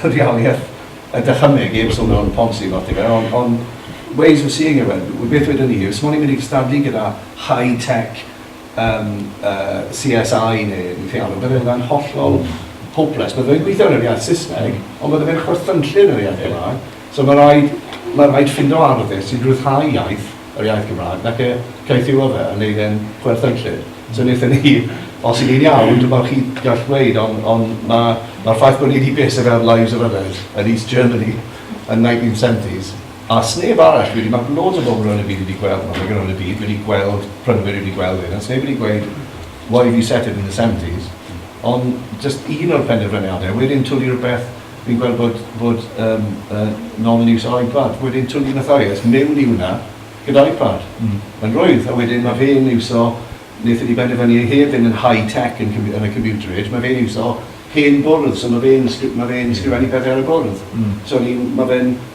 rheoliaeth y dychymyg, eib sôn o'n ponsi lot i fe, ond on ways of seeing it, well, beth wedyn ni, os mwyn i'n mynd i gystadlu gyda high-tech um, uh, CSI neu yn ffealw, bydde hwnna'n hollol hopeless. Bydde fe'n gweithio yn yr iaith Saesneg, ond bydde fe'n chwerthynllun yn yr iaith Gymraeg. So mae rhaid, mae rhaid ffindo arddys sy'n rhyddhau iaith yr iaith Gymraeg nac e, caethiwa fe a neud e'n chwerthinllyd. So naethon ni, os y'n ni'n iawn, dwi'm yn siŵr os chi'n gallu gweud ond ond ma' ma'r ffaith bo' ni 'di byth yn gweld Lives of Udders yn East Germany yn 1970s a sneb arall wedi, ma' loads o bobl rownd y byd wedi gweld, ma' rhywun rownd y byd wedi gweld, prynwyr wedi gweld hyn a sneb wedi gweud why have you set it in the seventies ond jyst un o'r penderfyniade a wedyn twli rwbeth Fi'n gweld bod, bod um, uh, novel use o iPad. Wedyn twn i'n fatha, yes, mewn i hwnna, gyda iPad. Mm. Mae'n rwydd, a wedyn mae fe'n iwso, wnaethon ni benderfynu ei hef yn high-tech yn, yn y computer age, mae fe'n iwso hen bwrdd, so mae fe'n ma fe mm. sgrifennu pethau ar y bwrdd. Mm. So mae fe'n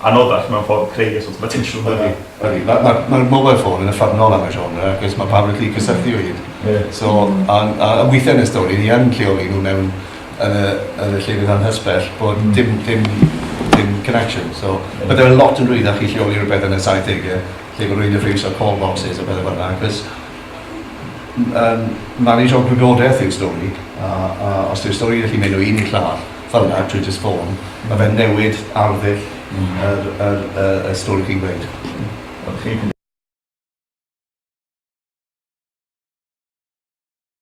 Anoddach mewn ffordd creu y sort of attention yna. Ydi, ydi. Mae'r ma, ma mobile phone yn uffernol am y genre achos mae pawb yn gallu cysylltu o hyd. Yeah. So, a, a, a weithiau yn y stori ni yn lleoli nhw mewn yn y, yn y llefydd anhysbell bod mm. dim, dim, dim connection. So, yeah. byddai'n lot yn rwyddach i lleoli rhywbeth yn y 70au lle bod rwy'n y ffriws o'r call boxes a beth fel yna achos um, manage o gwybodaeth yw'r stori a, a os yw'r stori yn gallu mynd o un i'r llall fel yna drwy jyst ffôn, ma' fe'n newid arddull yr yr y y stori chi'n gweud. Wel chi'n